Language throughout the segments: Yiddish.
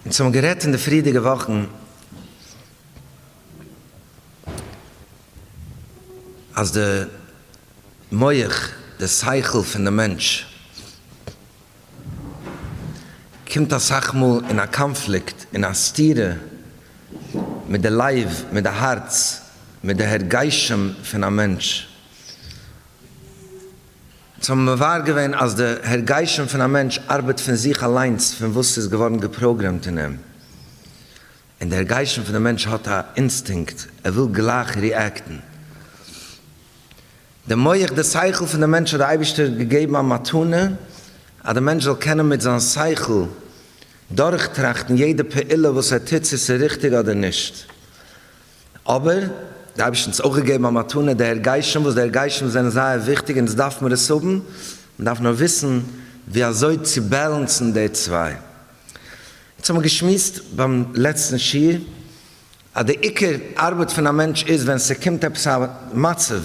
אונז האבן גערעדט אין די פריערדיגע וואכן אז די מח, די שכל פון די מענטש, קומט אסאך מאל אין א קאנפליקט, אין א סתירה, מיט די לב, מיט די הארץ, מיט די הרגשים פון א מענטש. זיי האבן מבאר געווען אז די הרגשים פון א מענטש ארבעט פון זיך אליינס פון וואס ס'איז געווארן געפראגרעמט אין אים, און די הרגשים פון די מענטש האט א אינסטינקט, ער וויל גלייך ריעקטן. די מח, די שכל פון די מענטש האט די אייבערשטער געגעבן א מתנה אז די מענטש זאל קענען מיט זיין שכל דורכטראכטן יעדע פעולה וואס ער טוט צו ס'איז ריכטיג אדער נישט, אבער, די אייבערשטן האט אונז אויך געגעבן א מתנה, די הרגשים, וואס די הרגשים זענען זייער וויכטיג און עס דארף מיר עס האבן, מען דארף נאר וויסן ווי אזוי צו בעלענסן די צוויי. יעצט האט מען געשמועסט ביים לעצטן שיעור אז די עיקר ארבעט פון א מענטש איז ווען ס'קומט עפעס א מצב,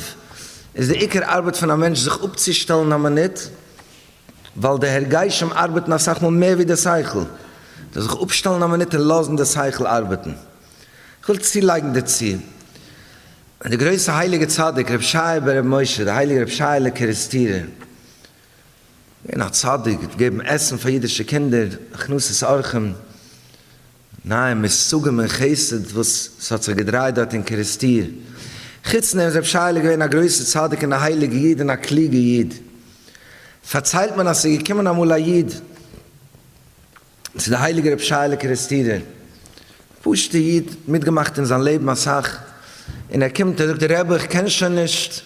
איז די עיקר ארבעט פון א מענטש זיך אפצושטעלן א מינוט, ווייל די הרגשים ארבעטן אסאך מאל מער ווי די שכל, זיך אפשטעלן א מינוט און לאזן די שכל ארבעטן. כ'וויל צולייגן דערצו, אז דער גרויסער הייליגער צדיק רבי שייער בן רבי משה, דער הייליגער רבי שייעלע קערעסטירער, געווען א צדיק, האט געגעבן עסן פאר אידישע קינדער, הכנסת אורחים, נייע מושגים אין חסד וואס ס'האט זיך געדרייט דארט אין קערעסטיר. חוץ דעם איז רבי שייעלע געווען א גרויסער צדיק און א הייליגער איד און א קלוגער איד. פארציילט מען אז ס'איז געקומען אמאל א איד, צו די הייליגע רב שייעלע קערעסטירער, א פשוטע איד, מיטגעמאכט אין זיין לעבן אסאך, און ער קומט ער זאגט רבי איך קען שוין נישט,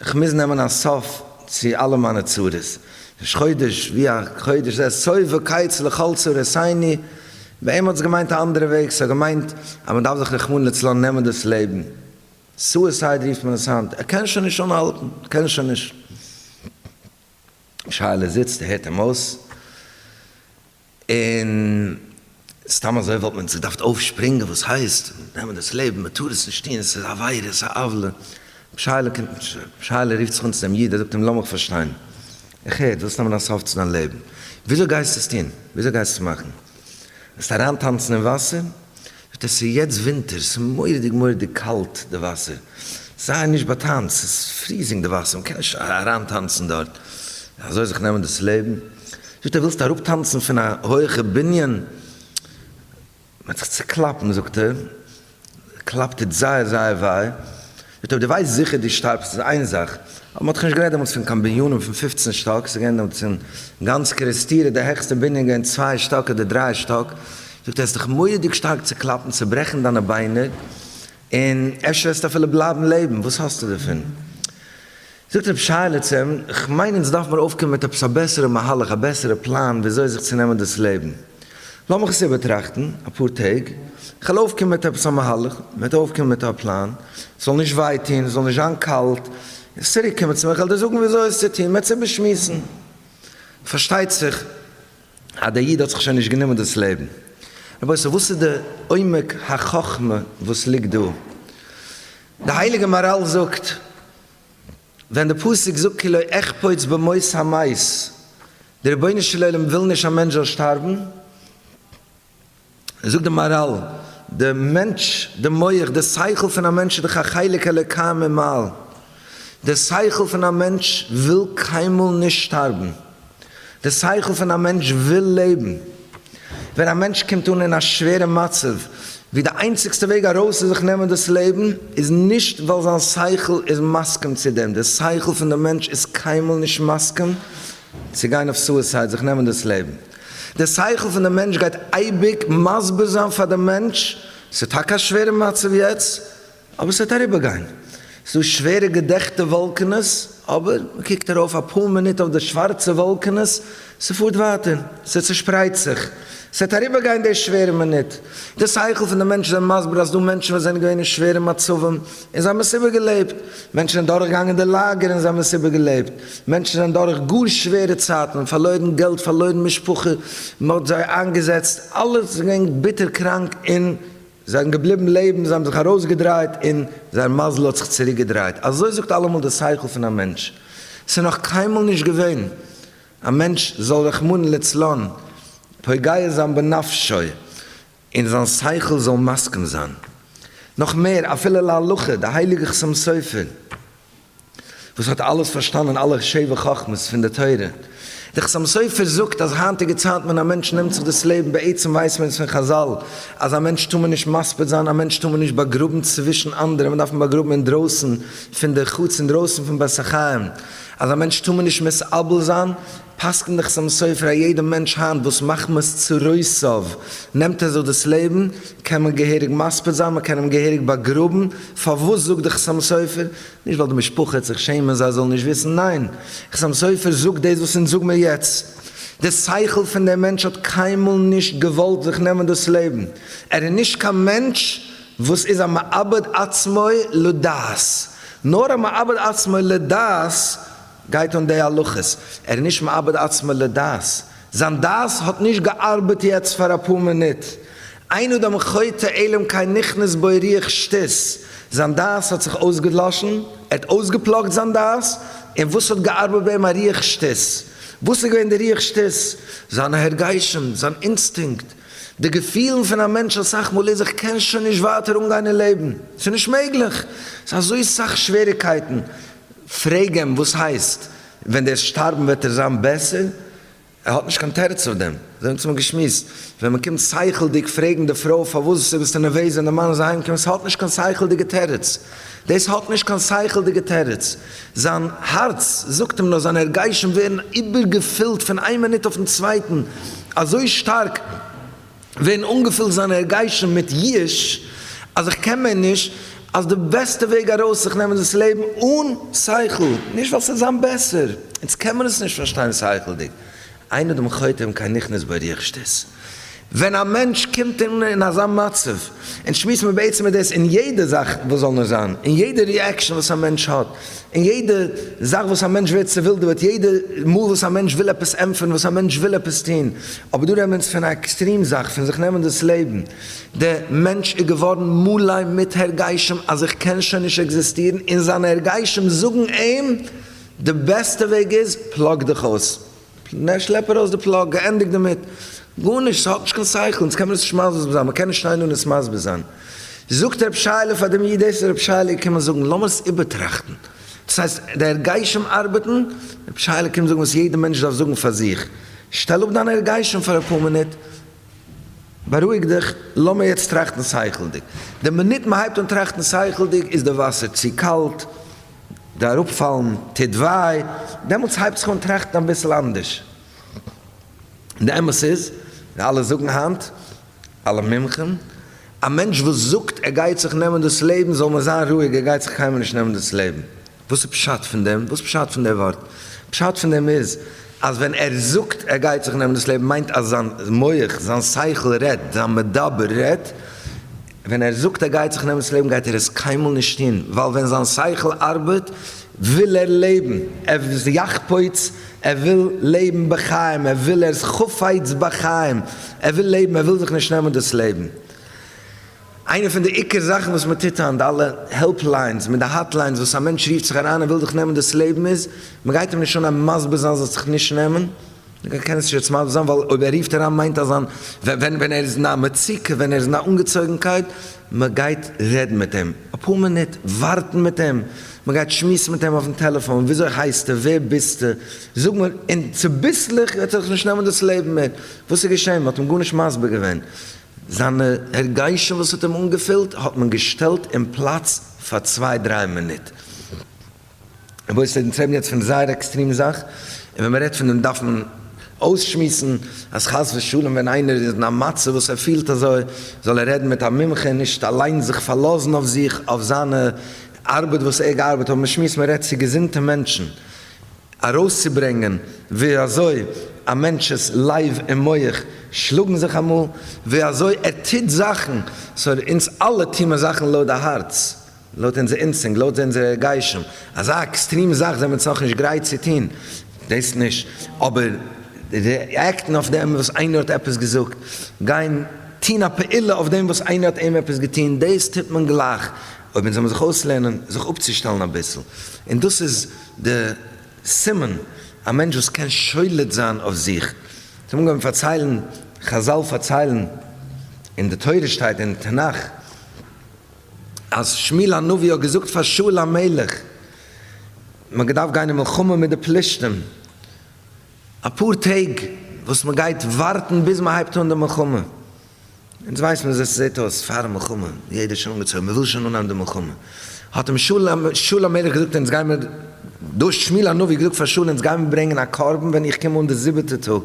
איך מוז נעמען א סוף צו אלע מיינע צרות, ראש חודש ווי א חודש זה סוף וקיץ לכל צרותיני, ביי אים האט עס געמיינט א אנדערע וועג, עס האט געמיינט אז מען דארף זיך רחמנא לצלן נעמען דאס לעבן, סועסייד רופט מען עס היינט, ער קען שוין נישט אנהאלטן, ער קען שוין נישט. שייעלע זיצט, הערט אים אויס, און סתם אזוי וואלט מען זיך דארפט אויפשפרינגען, וואס הייסט? נעמען דאס לעבן, מען טאר עס נישט טון, עס איז עבירה, עס איז א עוולה. שייעלע קומט נישט אראפ. שייעלע רופט זיך אן צו דעם איד, ער זאגט אים, לאמיך פארשטיין, איך הער, דו ווילסט נעמען א סוף צו דיין לעבן, וויאזוי גייסטו עס טון? וויאזוי גייסטו מאכן? וועסטו אריינטאנצן אין וואסער? וועט עס איז יעצט ווינטער ס'איז מוראדיג מוראדיג קאלט די וואסער זיי נישט באטאנץ ס'איז פריזינג די וואסער מ'קען נישט אריין טאנצן דארט אזוי זיך נעמען דאס לעבן זאגט ער ווילסט אראפ טאנצן פון א הויעכע בנין מ'וועט זיך צוקלאפן זאגט ער קלאפט טוט זייער זייער וויי יט אויב דו ווייסט זיכער דו שטארבסט איז איין זאך, אבער מ'האט דאך נישט גערעדט דעמאלטס פון קיין בנינים פון פופצן שטאק, ס'איז געווען דעמאלטס אין גאנץ קערעסטירע די העכסטע בנין געווען צוויי שטאק אדער דריי שטאק, זאגט ער האסט דיך מורא'דיג שטארק צוקלאפן צוברעכן דיינע ביינער, און אפשר וועסטו אפילו בלייבן לעבן, וואס האסטו דערפון? זאגט רב שייעלע צו אים, כ'מיין אונז דארף מיר אויפקומען מיט עפעס א בעסערע מהלך, א בעסערע פלאן וויאזוי זיך צו נעמען דאס לעבן. לאמיך עס איבערטראכטן אפאר טעג, כ'וועל אויפקומען מיט עפעס א מהלך, מ'וועט אויפקומען מיט א פלאן, ס'זאל נישט וויי טון, ס'זאל נישט זיין קאלט, און צוריק קומען צו מיר, כ'וועל דיר זאגן וויאזוי עס צו טון, מ'וועט עס איבערשמועסן. פארשטייט זיך אז דער איד האט זיך שוין נישט גענומען דאס לעבן. רבותי, וואס איז די עומק החכמה וואס ליגט דא? די הייליגע מאראל זאגט, ווען די פסוק זאגט כי לא אחפוץ במות המית, די רבונו של עולם וויל נישט א מענטש זאל שטארבן, זאגט די מאראל, די מענטש, די מח, די שכל פון א מענטש איז דאך א חלק אלוקי ממעל, די שכל פון א מענטש וויל קיינמאל נישט שטארבן. די שכל פון א מענטש וויל לעבן. ווען א מענטש קומט אן אין א שווערע מצב, ווי די איינציגסטע וועג ארויס איז זיך נעמען דאס לעבן, איז נישט ווייל זיין שכל איז מסכים צו דעם, די שכל פון די מענטש איז קיינמאל נישט מסכים צו גיין אויף סועסייד, זיך נעמען דאס לעבן. די שכל פון די מענטש גייט אייביג מסביר זיין פאר די מענטש, ס'איז טאקע א שווערע מצב יעצט, אבער ס'וועט אריבערגיין. ס'דא שווערע געדעכטע וואלקענעס, אבער מ'קוקט ארויף אפאר מינוט אויף די שווארצע וואלקענעס, ס'פארט ווייטער, ס'צושפרייט זיך. ס'וועט אריבערגיין די שווערע מינוט. די שכל פון די מענטש זענען מסביר אז ס'דא מענטשן וואס זענען געווען אין שווערע מצבים און זיי האבן עס איבערגעלעבט. מענטשן זענען דורכגעגאנגען די לאגער און זיי האבן עס איבערגעלעבט. מענטשן זענען דורך גאר שווערע צייטן, פארלוירן געלט, פארלוירן משפחה, מ'האט זיי איינגעזעצט, אלעס איז געווען ביטער קראנק און. זיי זענען געבליבן לעבן, זיי האבן זיך ארויסגעדרייט און זייער מזל האט זיך צוריקגעדרייט. אזוי זאגט אלעמאל די שכל פון א מענטש. ס'איז נאך קיינמאל נישט געווען א מענטש זאל רחמנא לצלן פוגע זיין בנפשו און זיין שכל זאל מסכים זיין. נאך מער, אפילו להלכה, די הייליגע חתם סופר, וואס האט אלעס פארשטאנען אלע שבע חכמות פון די תורה. דער חתם סופר זאגט אז היינטיגע צייטן ווען א מענטש נעמט זיך דאס לעבן בעצם ווייסט מען עס פון חזל אז א מענטש טאר מען נישט מספיד זיין א מענטש טאר מען נישט באגראבן צווישן אנדערע מען דארף אים באגראבן אינדרויסן פון די חוץ אינדרויסן פון בית החיים אז א מענטש טאר מען נישט מסרבל זיין פסק'ן דאך סאמע סוי פאר א יעדע מענטש היינט וואס מחמת צרותיו נעמט ער זיך דאס לעבן, קען מען געהעריג מספיד זיין, מען קען אים געהעריג באגראבן, פארוואס זאגט דאך סאמע סופר, נישט ווייל די משפחה העט זיך שעמען זיי זאלן נישט וויסן, ניין, סאמע סופר זאגט דאס וואס אונז זאג מיר יעצט, די שכל פון דעם מענטש האט קיינמאל נישט געוואלט זיך נעמען דאס לעבן, ער איז נישט קיין מענטש וואס איז א מאבד עצמו לדעת, נאר א מאבד עצמו לדעת, גייט אן די הלכות, ער איז נישט מאבד עצמו לדעת, זיין דעת האט נישט געארבעט יעצט פאר אפאר מינוט, אין אדם חוטא עלם כן נכנס בו רוח שטות, זיין דעת האט זיך אויסגעדלאשן, ער האט אויסגעפלאגט זיין דעת, און וואס האט געארבעט ביי אים א רוח שטות, וואס איז געווען די רוח שטות? זיינע הרגשים, זיין אינסטינקט, די געפילן פון א מענטש אסאך מאל איז איך קען שוין נישט ווייטער אנגיין אין לעבן, ס'איז נישט מעגליך, ס'איז אזוי סאך שוועריקייטן, פרעג אים וואס הייסט ווען דער שטארבן וועט ער זיין בעסער? ער האט נישט קיין תירוץ אויף דעם. זיי האבן צוזאמען געשמועסט. ווען מען קומט שכל'דיג פרעגן די פרוי פארוואס זי ביסטו נערוועז ווען די מאן איז אהיים געקומען, ס'האט נישט קיין שכל'דיגע תירוץ. דאס האט נישט קיין שכל'דיגע תירוץ. זיין הארץ זאגט אים נאר, זיינע הרגשים ווערן איבערגעפילט פון איין מינוט אויפן צווייטן אזוי שטארק, ווערן אנגעפילט זיינע הרגשים מיט ייאוש אז איך קען מער נישט, אז די בעסטע וועג ארויס איז זיך נעמען דאס לעבן אן שכל, נישט ווייל ס'וועט זיין בעסער, אונז קען מען עס נישט פארשטיין שכל'דיג, אין אדם חותם קיין נכנס ברוח שטות. ווען א מענטש קומט אן אין אזא מצב, און שמועסט מען בעצם איז דאס אין יעדע זאך וואס זאל נאר זיין, אין יעדע ריעקשאן וואס א מענטש האט, און יעדע זאך וואס א מענטש ווערט צעווילדעוועט, יעדע מאל וואס א מענטש וויל עפעס ענטפערן, וואס א מענטש וויל עפעס טון, אבער דא רעדט מען פון א עקסטרים זאך, פון זיך נעמען דאס לעבן, דער מענטש איז געווארן מלא מיט הרגשים אז איך קען שוין נישט עקזיסטירן, און זיינע הרגשים זאגן אים די בעסטע וועג איז פלאג דיך אויס. נע, שלעפ ארויס די פלאג, געענדיגט דערמיט. גארנישט, ס'האט נישט קיין שכל, אונז קען מען דאס נישט מסביר זיין, מען קען נישט שטיין דא און עס מסביר זיין. זאגט רב שייעלע פאר דעם איד, דאס איז רב שייעלע קומען זאגן, לאמיר עס איבערטראכטן. דאס הייסט, די הרגשים ארבעטן, רב שייעלע קומט זאגן וואס יעדער מענטש דארף זאגן פאר זיך, שטעל אפ דיינע הרגשים פאר אפאר מינוט, בארואיג דיך, לאמיר יעצט טראכטן שכל'דיג. די מינוט מען הייבט אן טראכטן שכל'דיג איז די וואסער צו קאלט, די אראפפאלן טוט וויי, דעמאלטס הייבט זיך אן טראכטן אביסל אנדערש. די אמת איז, ווי אלע זאגן היינט, אלע מומחים, א מענטש וואס זאגט ער גייט זיך נעמען דאס לעבן זאל מען זיין רואיג ער גייט זיך קיינמאל נישט נעמען דאס לעבן. וואס איז פשט פון דעם? וואס פשט פון די ווארט? פשט פון דעם איז אז ווען ער זאגט ער גייט זיך נעמען דאס לעבן מיינט אז זיין מח, זיין שכל רעדט, זיין מדבר רעדט, ווען ער זאגט ער גייט זיך נעמען ס'לעבן גייט ער עס קיינמאל נישט טון, ווייל ווען זיין שכל ארבעט וויל ער לעבן, ער איז יחפוץ, ער וויל לעבן בחיים, ער וויל, ער איז חפץ בחיים, ער וויל לעבן, ער וויל זיך נישט נעמען דאס לעבן. איינע פון די עיקר זאכן וואס מען טוט היינט, די אלע העלפ ליינס מיט די האט ליינס וואס א מענטש רופט זיך אריין און וויל זיך נעמען דאס לעבן איז, מען גייט אים נישט אן מסביר זיין זאל זיך נישט נעמען, איך קען עס נישט יעצט מסביר זיין, ווייל אויב ער רופט אריין מיינט אז זיין, ווען ווען ער איז אין א מצוקה, ווען ער איז אין א אנגעצויגנקייט, מען גייט רעדן מיט אים, אפאר מינוט ווארטן מיט אים, מען גייט שמועסן מיט אים אויפן טעלעפאן, וויאזוי הייסטו, ווער ביסטו, זאג מיר, און צוביסלעך וועט זיך נישט נעמען דאס לעבן מער, וואס איז געשען, מען האט אים גארנישט מסביר געווען, זיינע הרגשים וואס האט אים אנגעפילט האט מען געשטעלט אין פלאץ פאר צוויי דריי מינוט. רבותי, אונז רעדן יעצט פון זייער עקסטרים זאך, און ווען מ'רעדט פון דעם דארף מען אויסשמועסן אז חס ושלום ווען איינער איז אין א מצב וואס ער פילט אזוי, זאל ער רעדן מיט א מומחה און נישט אליין זיך פארלאזן אויף זיך, אויף זיינע ארבעט וואס ער געארבעט, אבער מ'שמועסט, מ'רעדט צו געזונטע מענטשן, ארויסצוברענגען ווי אזוי א מענטש'ס לב און מח שלאגן זיך אמאל, ווי אזוי ער טוט זאכן, סאו אונז אלע טוהן מיר זאכן לויט די הארץ. לויט אונזער אינסטינקט, לויט אונזער הרגשים, אזא עקסטרים זאך זענען מיר צו נאכנישט גרייט צו טון דאס נישט, אבער ריעקטן אויף דעם וואס איינער האט עפעס געזאגט, גיין טון א פעולה אויף דעם וואס איינער האט אים עפעס געטון, דאס טוט מען גלייך, אויב אונז זאל מען זיך אויסלערנען זיך אפצושטעלן אביסל, און דאס איז די סימן, א מענטש וואס קען שולט זיין אויף זיך, זיי האבן אנגעהויבן פארציילן, חזל פארציילן, און די תורה שטייט אין תנך, אז שמואל הנביא האט געזאגט פאר שאול המלך מען האט געדארפט גיין אין מלחמה מיט די פלישתים אפאר טעג וואס מען גייט ווארטן ביז מען הייבט אן די מלחמה, אונז ווייסן ווי אזוי ס'זעט אויס פארן מלחמה, יעדער איז שוין אנגעצויגן מען וויל שוין אנהייבן די מלחמה, האט אים שאול המלך געזאגט אונז גיימער, דא האט שמואל הנביא געזאגט פאר שאול אונז גיימער ברענגען א קרבן ווען איך קום אן די זיבעטע טאג,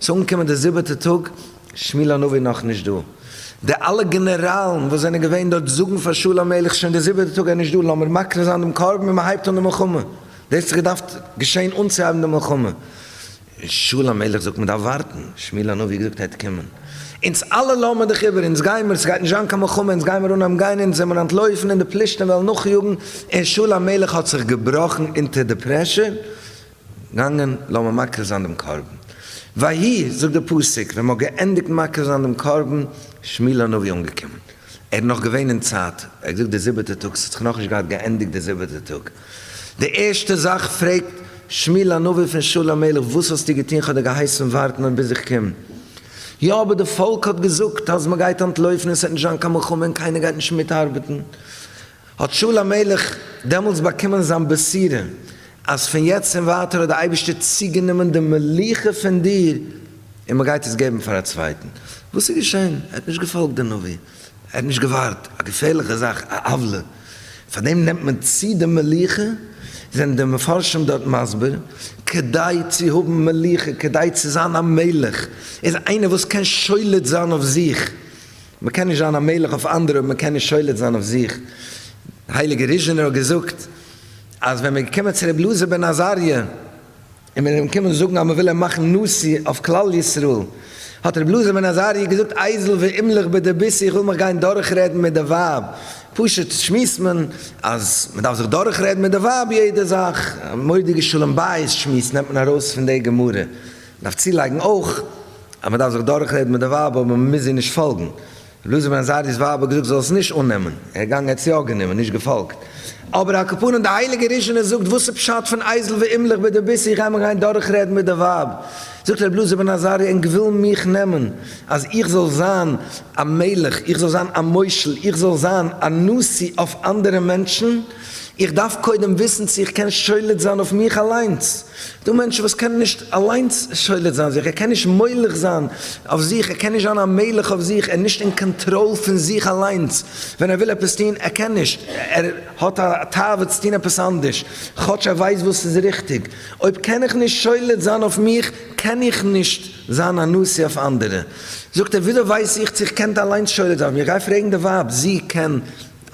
ס'איז אנגעקומען די זיבעטע טאג, שמואל הנביא נאך נישט דא. די אלע גענעראלן וואס זענען געווען דארט זאגן פאר שאול המלך שוין די זיבעטע טאג ער נישט דא לאמיר מקריב זיין דעם קרבן און מען הייבט אן די מלחמה. דאס האט זיך געדארפט געשען אנצוהייבן די מלחמה. און שאול המלך זאגט מען דארף ווארטן, שמואל הנביא האט געזאגט ער וועט קומען. אונז אלע לאמיר דיך איבער אונז גיימער ס'גייט נישט זיין קיין מלחמה אונז גיימער אנהייבן גיין אונז זעמער אנטלויפן און די פלישתים וועלן נאכיאגן און שאול המלך האט זיך געבראכן אונטער די פרעשור. געגאנגען לאמיר מקריב זיין דעם קרבן. ויהי, זאגט דער פסוק, ווען מ'האט געענדיגט מקריב זיין דעם קרבן, שמואל הנביא אנגעקומען. ער איז נאך געווען אין צייט, ער האט געזאגט די זיבעטע טאג, ס'האט זיך נאכנישט געהאט געענדיגט די זיבעטע טאג. די ערשטע זאך פרעגט שמואל הנביא פון שאול המלך, וואס האסטו געטון, כ'האב דיר געהייסן ווארטן אויף ביז איך קום. יא, אבער די פאלק האט געזאגט אז מ'גייט אנטלויפן און ס'וועט נישט זיין קיין מלחמה און קיינער גייט נישט מיטארבעטן. האט שאול המלך דעמאלטס באקומען זיין בשורה, אז פון יעצט און ווייטער האט דער אייבערשטער צוגענומען די מלוכה פון דיר, און מען גייט עס געבן פאר א צווייטן. וואס איז געשען? ער האט נישט געפאלגט דעם נביא, ער האט נישט געווארט, א געפערליכע זאך, א עוולה, פאר דעם נעמט מען צו די מלוכה, זענען די מפרשים דארט מסביר, כדי צו האבן מלוכה, כדי צו זיין א מלך, איז איינער וואס קען שולט זיין אויף זיך, מען קען נישט זיין א מלך אויף אנדערע אויב מען קען נישט שולט זיין אויף זיך, הייליגער ריזשינער האט געזאגט אז ווען מען איז געקומען צו רבי אלעזר בן עזריה און מען איז אים געקומען זאגן אז מען וויל אים מאכן נשיא אויף כלל ישראל, האט רבי אלעזר בן עזריה געזאגט אייזל ואימלך בידי ביסי איך וויל מיך גיין דורך רעדן מיט די ווייב, פשוט שמועסט מען אז מען דארף זיך דורך רעדן מיט די ווייב יעדע זאך, מודיע שלום בית שמועס נעמט מען ארויס פון די גמרא. דארף צולייגן אויך אז מען דארף זיך דורכרעדן מיט די ווייב אבער מען מוז זי נישט פאלגן. ר' אלעזר בן עזריא'ס ווייב האט געזאגט זי זאל עס נישט אננעמען, ער איז געגאנגען ער האט עס יא גענומען, נישט געפאלגט. אבער על כפנים די הייליגע ראשונה זאגט וואס איז פשט פון אייזל ואימלך בידי ביסי איך גיי מיך גיין דורכרעדן מיט די ווייב. זאגט ר' אלעזר בן עזריה ענק ווילן מיך נעמען אז איך זאל זיין א מלך, איך זאל זיין א מושל, איך זאל זיין א נשיא אויף אנדערע מענטשן, איך דארף קודם וויסן צו איך קען שולט זיין אויף מיך אליינס. ס'דא מענטשן וואס קענען נישט אליינס שולט זיין זיך, ער קען נישט מולך זיין אויף זיך, ער קען נישט זיין א מלך אויף זיך, ער איז נישט אין קאנטראל פון זיך אליינס ווען ער וויל עפעס טון, ער קען נישט, ער האט א תאווה צו טון עפעס אנדערש כאטש ער ווייסט וואס איז ריכטיג. אויב קען איך נישט שולט זיין אויף מיך, קען איך נישט זיין א נשיא אויף אנדערע. זאגט ער, וויאזוי ווייס איך צו איך קען אליינס שולט זיין אויף מיך? גיי פרעגן די ווייב, זי קען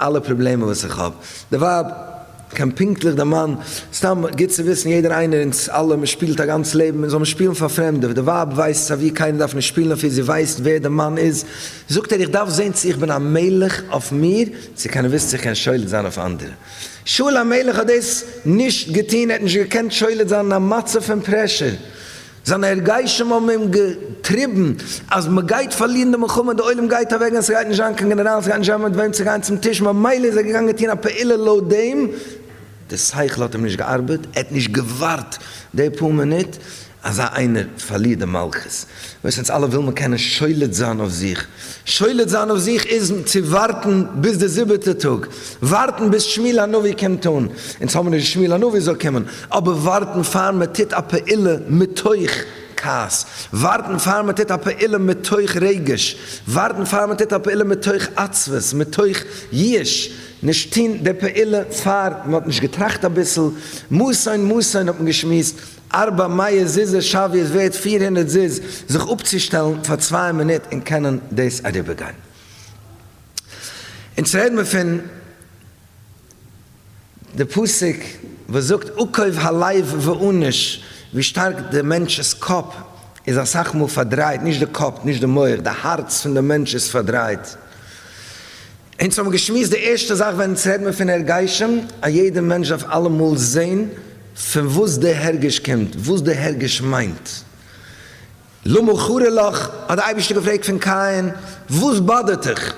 אלע פראבלעמען וואס איך האב, די ווייב, קיין פונקטליך די מאן, סתם גוט צו וויסן יעדער איינער אונז אלע מען שפילט א גאנץ לעבן מען זאל נישט שפילן פאר פרעמדע, די ווייב ווייסט סייווי קיינער דארף נישט שפילן אויף איר זי ווייסט ווער די מאן איז, זאגט ער איך דארף זען צו איך בין א מלך אויף מיר צו קיינער וויסט צו איך קען שולט זיין אויף אנדערע, שאול המלך האט דאס נישט געטון ער האט נישט געקענט שולט זיין אין א מצב פון פרעשור, זיינע הרגשים האבן אים געטריבן אז מען גייט פארלירן די מלחמה, די עולם גייט אוועקגיין, עס גייט נישט זיין קיין גענעראלן, עס גייט נישט האבן מיט וועם צו גיין צום טיש, ממילא איז ער געגאנגען טון א פעולה לויט דעם, די שכל האט אים נישט געארבעט, ער האט נישט געווארט די פאר מינוט אזא איינער פארלירט די מלכות, וואס אונז אלע וויל מען קענען שולט זיין אויף זיך, שולט זיין אויף זיך איז צו ווארטן ביז די זיבעטע טאג. ווארטן ביז שמואל הנביא קומט אן, אונז האבן נישט שמואל הנביא זאל קומען, אבער ווארטן פאר מען טוט א פעולה מתוך כעס, ווארטן פאר מען טוט א פעולה מתוך רגש, ווארטן פאר מען טוט א פעולה מתוך עצבות, מתוך ייאוש, נישט טון די פעולה פאר מען האט נישט געטראכט אביסל, מאסען מאסען האט מען געשמועסט ארבע מאות זוז ש ווי עס ווערט פֿיר הונדערט זוז זיך אפצושטעלן פאר צוויי מינוט און קענען דאס אריבערגיין. אונז רעד מיר פון די פסוק וואס זאגט עקוב הלב ואנוש, ווי שטארק די מענטש'ס קאפ איז אסאך מאל פארדרייט, נישט די קאפ, נישט די מח, די הארץ פון די מענטש איז פארדרייט. אונז האבן געשמועסט די ערשטע זאך ווען אונז רעד מיר פון הרגשים, אז יעדע מענטש דארף אלעמאל זען פון וואס די הרגש קומט, וואס די הרגש מיינט. למה חרה לך, האט דער אייבערשטער געפרעגט פון קין, וואס באדערט דיך?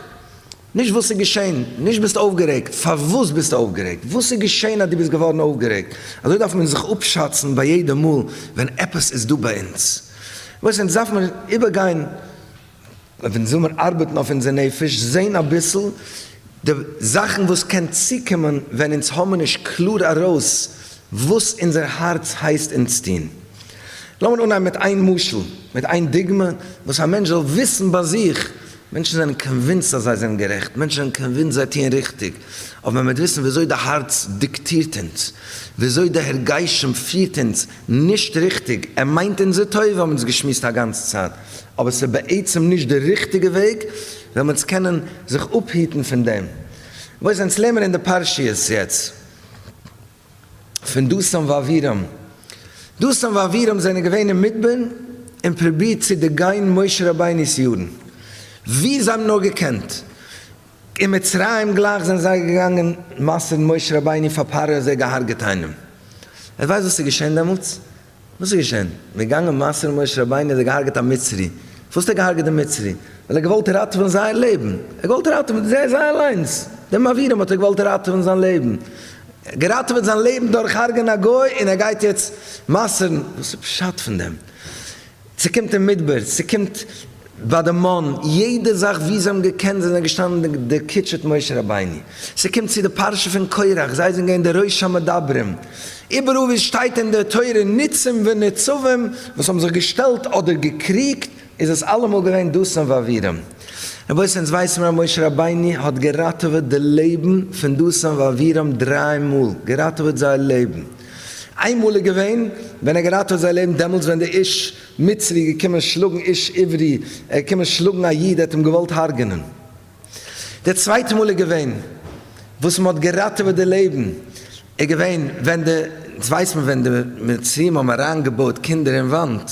נישט וואס איז געשען, נישט ביסט אויפגערעגט, פארוואס ביסטו אויפגערעגט? וואס איז געשען אז דו ביסט געווארן אויפגערעגט? אזוי דארף מען זיך אפשאצן ביי יעדע מאל ווען עפעס איז דא ביי אונז וואס אונז דארף מיר איבערגיין, ווען זאל מיר ארבעטן אויף אונזער נפש, זען אביסל די זאכן וואס קען צוקומען ווען אונז האבן נישט קלאר ארויס וואס אונזער הארץ הייסט אונז טון. לאמיר אנהייבן מיט איין משל, מיט איין דוגמא, וואס א מענטש זאל וויסן ביי זיך, מענטשן זענען קאנווינסד אז זיי זענען גערעכט, מענטשן זענען קאנווינסד זיי טוען ריכטיג, אבער מען וועט וויסן וויאזוי די הארץ דיקטירט אונז, וויאזוי די הרגשים פירט אונז נישט ריכטיג, ער מיינט אונזער טובה האבן אונז געשמועסט א גאנצע צייט. אבער ס'איז בעצם נישט די ריכטיגע וועג, וועלן אונז קענען זיך אפהיטן פון דעם. וואס אונז לערנען אין די פרשיות יעצט פון דתן ואבירם. דתן ואבירם זענען געווען אין מדבר און פרובירט צו דערגיין משה רבינו'ס יארן ווי זיי האבן נאר געקענט. אין מצרים גלייך זענען זיי געגאנגען מסר'ן משה רבינו פאר פרעה און זיי געהארגעט איינעם. ווער ווייסט וואס איז געשען דעמאלטס? וואס איז געשען? מגנב מסור משה רבינו האט ער געהארגעט א מצרי. פארוואס האט ער געהארגעט די מצרי? ווייל ער האט געוואלט ראטעווען זייער לעבן. ער האט געוואלט ראטעווען זיי זיי אליינס. דעם אבירם האט ער געוואלט ראטעווען זיין לעבן. געראטעוועט זיין לעבן דורך הארגען א גוי און ער גייט יעצט מסר'ן. וואס איז פשט פון דעם? ס'קומט אין מדבר, ס'קומט ביי די מן, יעדע זאך וואו זיי האבן געקענט זיי זענען געשטאנען דערקיטשעט משה רבינו, ס'קומט צו די פרשה פון קורח, זיי זענען געווען די ראש המדברים, איבעראל וואו עס שטייט אין די תורה ניצים וניצבים וואס האבן זיך געשטעלט אדער געקריגט איז עס אלעמאל געווען דתן ואבירם, רבותי אונז ווייסן מיר אז משה רבינו האט געראטעוועט די לעבן פון דתן ואבירם דריי מאל, געראטעוועט זייער לעבן. איינמאל איז געווען ווען ער געראטעוועט זיי לעבן דעמאלטס ווען די איש מצרי איז געקומען שלאגן איש עברי ער איז געקומען שלאגן א איד ער האט אים געוואלט הרג'נען די צווייטע מאל איז געווען וואס מען האט געראטעוועט די לעבן איז געווען ווען די אונז ווייסט מען ווען די מצריים האבן אריינגעבויעט קינדער אין וואנט.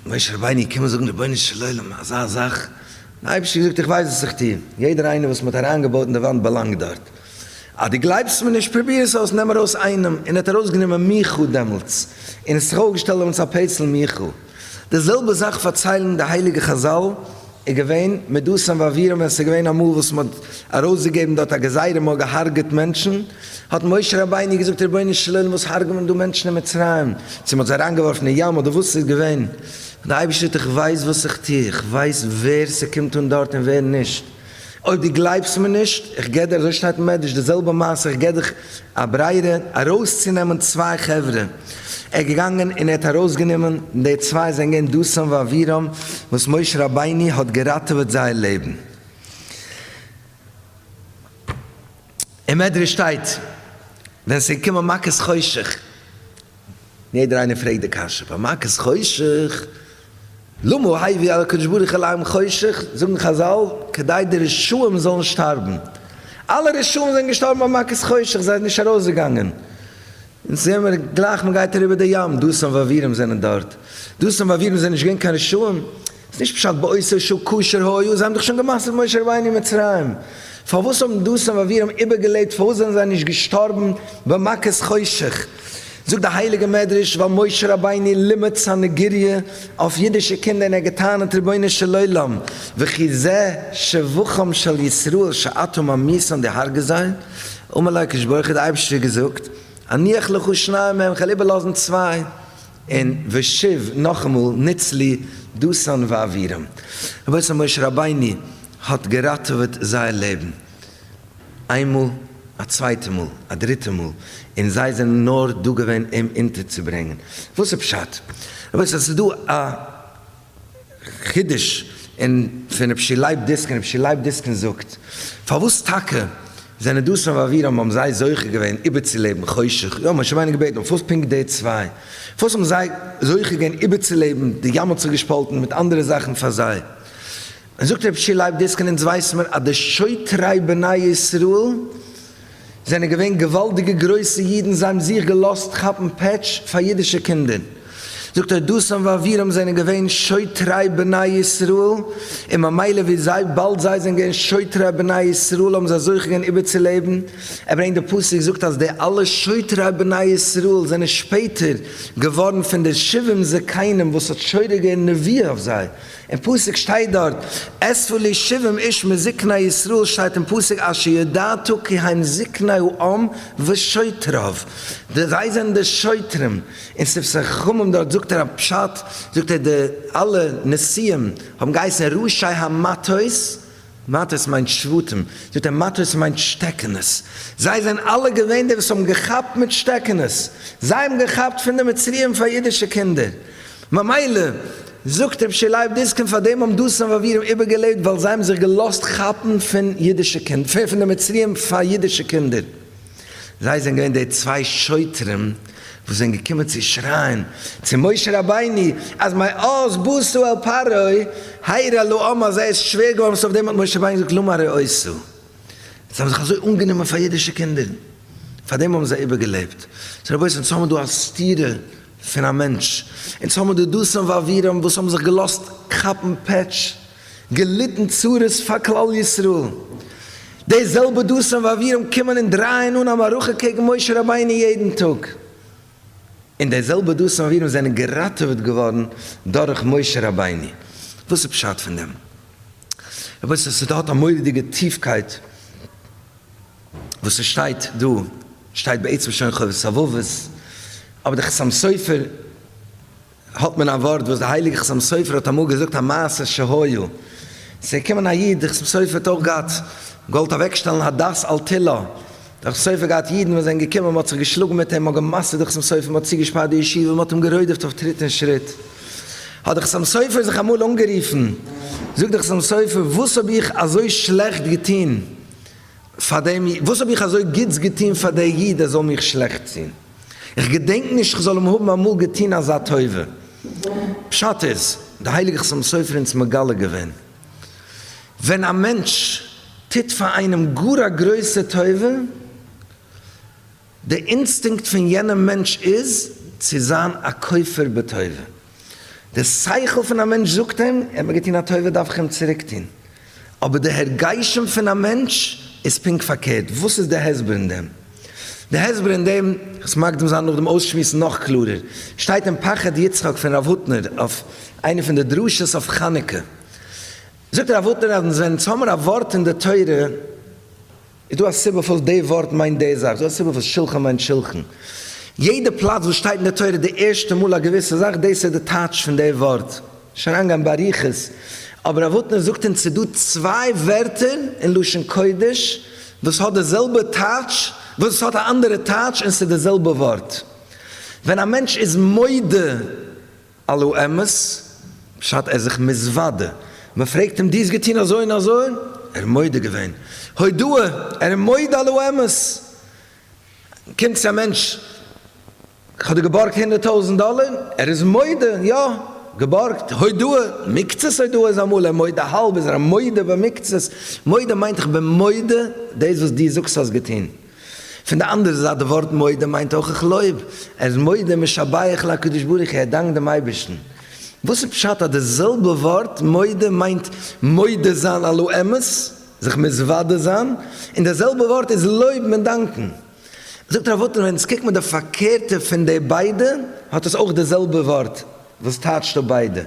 משה רבינו איז געקומען זאגן רבונו של עולם אזא זאך? דער אייבערשטער האט געזאגט איך ווייס וואס איך טו, יעדער איינער וואס מען האט אריינגעבויט אין די וואנט באלאנגט דארט, אז דו גלייבסט מיר נישט פרוביר עס אויס נעם ארויס איינעם, און ער האט ארויסגענומען מיכאל דעמאלטס, און עס זיך אויפגעשטעלט דעמאלטס א פעצל מיכאל, די זעלבע זאך פארציילן די הייליגע חזל. איז געווען מיט דתן ואבירם ווען ס'איז געווען אמאל וואס מען האט ארויסגעגעבן דארט א גזירה מען האט געהארגעט מענטשן האט משה רבינו געזאגט רבונו של עולם וואס הארגען מען דא מענטשן אין מצרים צו מען האט זיי אריינגעווארפן אין ים אדער וואס ס'איז געווען דער אייבערשטער האט איך ווייס וואס איך טו איך ווייס ווער ס'קומט אן דארט און ווער נישט. אויב דו גלייבסט מיר נישט, איך גיב דיר, אזוי שטייט אין מדרש, די זעלבע מעשה, איך גיב דיך א ברירה ארויסצונעמען צוויי חברה. ער איז געגאנגען און ער האט ארויסגענומען, די צוויי זענען געווען דתן ואבירם, וואס משה רבינו האט געראטעוועט זייער לעבן. אין מדרש שטייט, ווען עס איז געקומען מכת חושך, יעדער איינער פרעגט די קשיא, פאר מכת חושך, למה העביר על הקדוש ברוך הוא לעם חושך, זאגן חזל, כדי די רשעים זאלן שטארבן. אלע רשעים זענען געשטארבן ביי מכת חושך, זיי זענען נישט ארויסגעגאנגען. אונז זעען מיר גלייך מען גייט אריבער די ים, דתן ואבירם זענען דארט. דתן ואבירם זענען נישט געווען קיין רשעים? איז נישט פשט בעושר שוב כאשר היה, זיי האבן דאך שוין גע'מסר'ט משה רבינו אין מצרים. פארוואס האבן דתן ואבירם איבערגעלעבט, פארוואס זענען זיי נישט געשטארבן ביי מכת חושך? זאגט די הייליגע מדרש ווייל משה רבינו לימד סנהדריה אויף אידישע קינדער און ער האט געטענה'ט רבונו של עולם וכי זה שבחם של ישראל שאתה ממית אן די הרגת זיי אמר לו הקדוש ברוך הוא די אייבערשטער האט געזאגט אניח לך שניים מהם כ'וועל איבערלאזן צוויי און ושיב נאכאמאל ניצלי דתן ואבירם רבותי משה רבינו האט געראטעוועט זייער לעבן. איין מאל, א צווייטע מאל, א דריטע מאל, און זיי זענען נאר דא געווען אים אונטערצוברענגען. וואס איז פשט? רבותי, עס איז דא א חידוש אין פון רבשי לייב דיסקין, רבשי לייב דיסקין זאגט, פארוואס טאקע זענען דתן ואבירם האבן זיי זוכה געווען איבערצולעבן חושך? יא, משה רבינו האט געבעטן, אבער פארוואס פונקט די צוויי? פארוואס האבן זיי זוכה געווען איבערצולעבן, די ים האט זיך געשפאלטן, מיט אנדערע זאכן פאר זיי? זאגט רבי שי לייב דאס קען אונז ווייסן מיר אז די שוטרי בני ישראל זענען געווען געוואלדיגע גרויסע אידן זיי האבן זיך געלאזט כאפן פעטש פאר אידישע קינדער זאגט ער דתן ואבירם זענען געווען שוטרי בני ישראל און ממילא ווי זיי באלד זיי זענען געווען שוטרי בני ישראל האבן זיי זוכה געווען איבערצולעבן ער ברענגט די פסוק זאגט אז די אלע שוטרי בני ישראל זענען שפעטער געווארן פון די שבעים זקנים וואס האט שורה געווען נביאה אויף זיי. אין פסוק שטייט דארט אספו לי שבעים איש מזקני ישראל שטייט אין פסוק אשר ידעתו כי הם זקני העם ושוטריו די זיי זענען די שוטרים אין ספר חכמים דארט זאגט ער א פשט זאגט ער די אלע נשיאים האבן געהייסן ראשי המטות מטות מיינט שבטים, זאגט ער, מטות מיינט שטעקענעס, זיי זענען אלע געווען די וואס האבן געכאפט מיט שטעקענעס, זיי האבן געכאפט פון די מצריים פאר אידישע קינדער, ממילא זאגט רב שי לייב דיסקין פאר דעם האבן דתן ואבירם איבערגעלעבט ווייל זיי האבן זיך געלאזט כאפן פון אידישע קינדער, פון די מצריים פאר אידישע קינדער. זיי זענען געווען די צוויי שוטרים וואס זענען געקומען צו שרייען צו משה רבינו אז מאז בוסו אל פרעה הירא לו אמה זיי איז שווער געווארן וואס אויף דעם האט משה רבינו געזאגט למה הרי עשו זיי האבן זיך אזוי אנגענומען פאר אידישע קינדער פאר דעם האבן זיי איבערגעלעבט זאגט רבותי אונז האבן דא א סתירה פון א מענטש אונז האבן דא דוסים ואבירם וואס האבן זיך געלאזט כאפן פעטש. געליטן צרות פאר כלל ישראל. די זעלבע דוסים ואבירים קומען און דרייען אן א מערכה קעגן משה רבינו יעדן טאג, און די זעלבע דוסים ואבירים זענען געראטעוועט געווארן דורך משה רבינו. וואס איז פשט פון דעם? רבותי ס ס האט א מורא'דיגע טיפקייט וואס ס'שטייט דא, שטייט בעצם שוין חובת הלבבות, אבער דער חתם סופר האט מען א ווארט וואס די הייליגע חתם סופר האט אמאל געזאגט א מעשה שהיה, ס'איז געקומען א איד, די חתם סופר האט אויך געהאט, געוואלט אוועקשטעלן הדת על תילה, די חתם סופר געהאט אידן וואס זענען געקומען, מ'האט זיך געשלאגן מיט אים, מ'האט גע'מסר'ט די חתם סופר, מ'האט צוגעשפארט די ישיבה, מ'האט אים גערוידעפט אויף טריט און שריט, האט די חתם סופר זיך אמאל אנגערופן, זאגט די חתם סופר, וואס האב איך אזוי שלעכט געטון פאר דעם איד? וואס האב איך אזוי גוטס געטון פאר דער איד ער זאל מיך שלעכטס טון? איך געדענק נישט איך זאל אים האבן אמאל געטון אזא טובה. פשט איז, דער הייליגער חתם סופר איז אונז מגלה געווען, ווען א מענטש טוט פאר איינעם גאר א גרויסע טובה, די אינסטינקט פון יענעם מענטש איז צו זיין א כופר בטובה. די שכל פון א מענטש זאגט אים, ער האט מיר געטון א טובה דארף איך אים צוריק טון. אבער די הרגשים פון א מענטש איז פונקט פארקערט. וואס איז די הסבר אין דעם? די הסבר אין דעם, איך עס מקדים זיין נאכדעם אויסשמועסן נאך קלארער, שטייט אין פחד יצחק פון רב הוטנער אויף איינע פון די דרשות אויף חנוכה. זאגט רב הוטנער אז ווען אונז האמיר א ווארט אין די תורה, איז דא א סיבה פארוואס די ווארט מיינט די זאך? איז דא א סיבה פארוואס שלחן מיינט שולחן? יעדע פלאץ וואס שטייט אין די תורה די ערשטע מאל א געוויסע זאך, דאס איז די טייטש פון די ווארט. נישט אריינגיין באריכות, אבער אבותינו זאגט אונז ס'איז דא צוויי ווערטער אין לשון קודש וואס האט די זעלבע טייטש, וואס עס האט א אנדערע טייטש און ס'איז די זעלבע ווארט. ווען א מענטש איז מודה. על לא אמת, בשעת ער זיך מזוודה, מען פרעגט אים דו האסט געטון אזוי און אזוי? ער איז מודה געווען, הודאה, ער איז מודה על לא אמת, קומט צו א מענטש, כ'האב דיר געבארגט הונדערט טויזענט דאלער, ער איז מודה, יא, געבארגט, הודאה, מקצת הודאה איז אמאל ער מודה, האלב איז ער מודה במקצת, מודה מיינט איך בין מודה דאס וואס דו זאגסט האסט געטון. פון די אנדערע זייט די ווארט מודה מיינט אויך איך לויב, ער איז מודה משבח לקדוש ברוך הוא, ער דאנקט דעם אייבערשטן. וואס איז פשט אז די זעלבע ווארט מודה מיינט מודה זיין על האמת, זיך מתוודה זיין, און די זעלבע ווארט איז לויבן און דאנקן? זאגט ר' וואלטער ווען עס קוקט מען די פארקערטע פון די ביידע האט עס אויך די זעלבע ווארט וואס טייטשט אפ ביידע.